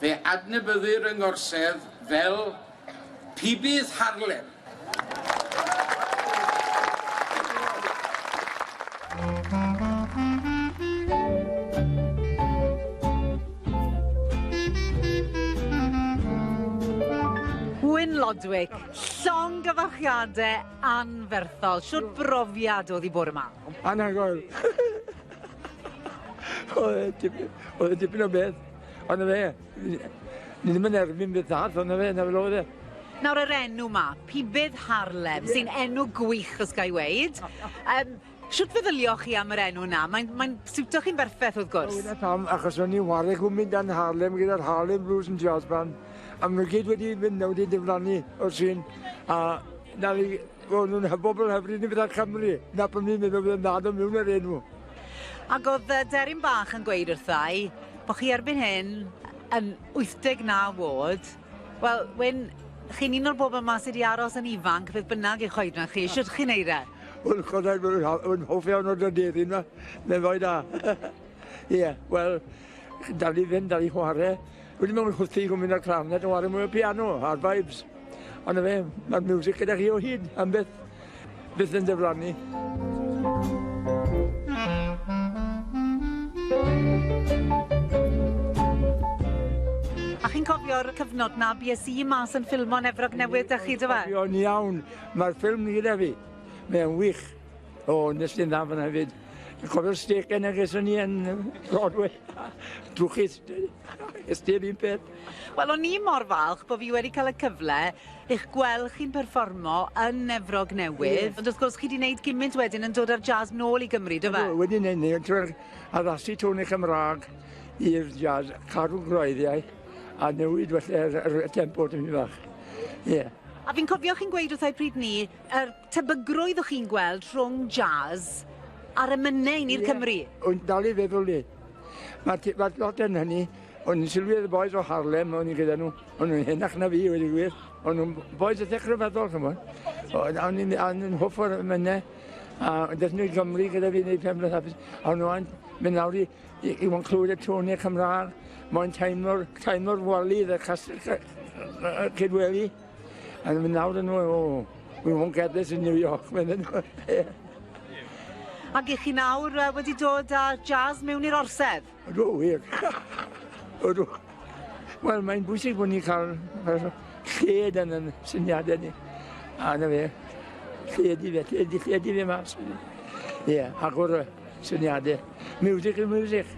Fe adnabyddir yng Ngorsedd fel Pibydd Harlem. Gwyn Lodwick, llongyfarchiade Anferthol. Shwt brofiad o'dd 'i bore 'ma? Anhygoel. Oedd e dipyn, oedd e dipyn o beth. Ond na fe, ni ddim yn erbyn beth arall, ond na fe, na fel oedd e. Nawr yr enw 'ma, Pibydd Harlem, sy'n enw gwych os ga i weud. Um, Shwt feddyliwch chi am yr enw 'na? Mae'n mae'n siwto chi'n berffeth wrth gwrs. O dyna pam, achos o'n i'n whare gwmni dan Harlem gyda'r Harlem Blues and Jazz Band a ma' nw gyd wedi mynd nawr wedi diflannu o'r sîn a nawr i o'n nw'n hy- bobol hyfryd ni fatha Cymru. 'Na pam fi'n meddwl fydde'n dda do' miwn yr enw. Ag o'dd yy deryn bach yn gweud wrthai bo' chi erbyn hyn yn wyth deg naw o'd. Wel, Wyn, chi'n un o'r bobl yma sydd wedi aros yn ifanc, beth bynnag eich oedran chi. Sut chi'n neud e? Wel, chwarae, rwy'n hoff iawn o'r aderyn yma. Mae'n ddoe da. Ie, wel, dal i fynd, dal i chwarae. Wedi mewn chwthu i gwmyn ar clafnet o chwarae mwy o piano, hard vibes. Ond na fe, mae'r music gyda chi o hyd, am byth. Bydd yn diflannu. A chi'n cofio'r cyfnod 'na bues i mas yn ffilmo'n Efrog Newydd 'da chi do fe? Cofio'n iawn. Mae'r ffilm ni gyda fi. Mae'n wych. O, nes i'n dda fan 'na hefyd. Cofio'r stêc yna ges o'n i yn Broadway. Drwchus. Ges ti yr un peth? Wel o'n i mor falch bo' fi wedi ca'l y cyfle i'ch gwel' chi'n perfformo yn Efrog Newydd. Ie. Ond wrth gwrs chi 'di neud gimynt wedyn yn dod â'r jazz nôl i Gymru do fe? Ydw wedi neud 'ny drwy'r addasu tôn y Cymrâg i'r jazz, cadw gwreiddiau a newid felly yr yr y tempo tipyn bach. Ie. A fi'n cofio chi'n gweud wrthai pryd 'ny yr Tebygrwydd o chi'n gweld rhwng jazz a'r emynau yn i'r Cymru? O'n dal i feddwl ni. Mae ti, mae lot yn hynny. O'n i'n sylwi ar y boys o Harlem, o'n i'n gyda nhw. O'n nhw'n henach na fi, wedi gwir. O'n nhw'n boys y tech rhyfeddol, chymod. O'n i'n an yn hwff o'r emynau. A deth nhw i Gymru gyda fi wneud pen blwydd hapus. A o'n nhw'n mynd lawr i, i, i wan clywed y tŵn i'r Cymraeg. Mae'n teimlo'r teimlo wali, y castell cydweli. And I mean, nawr yn nhw, oh, we won't get this in New York, meddyn nhw. Ac i chi nawr uh, wedi dod â jazz mewn i'r orsedd? Ydw, wir. Ydw. Wel, mae'n bwysig bod ni'n cael lled yn yn syniadau ni. A na fe, lled i fe, lled i, lled i fe mas. Ie, yeah, agor y syniadau. Music is music.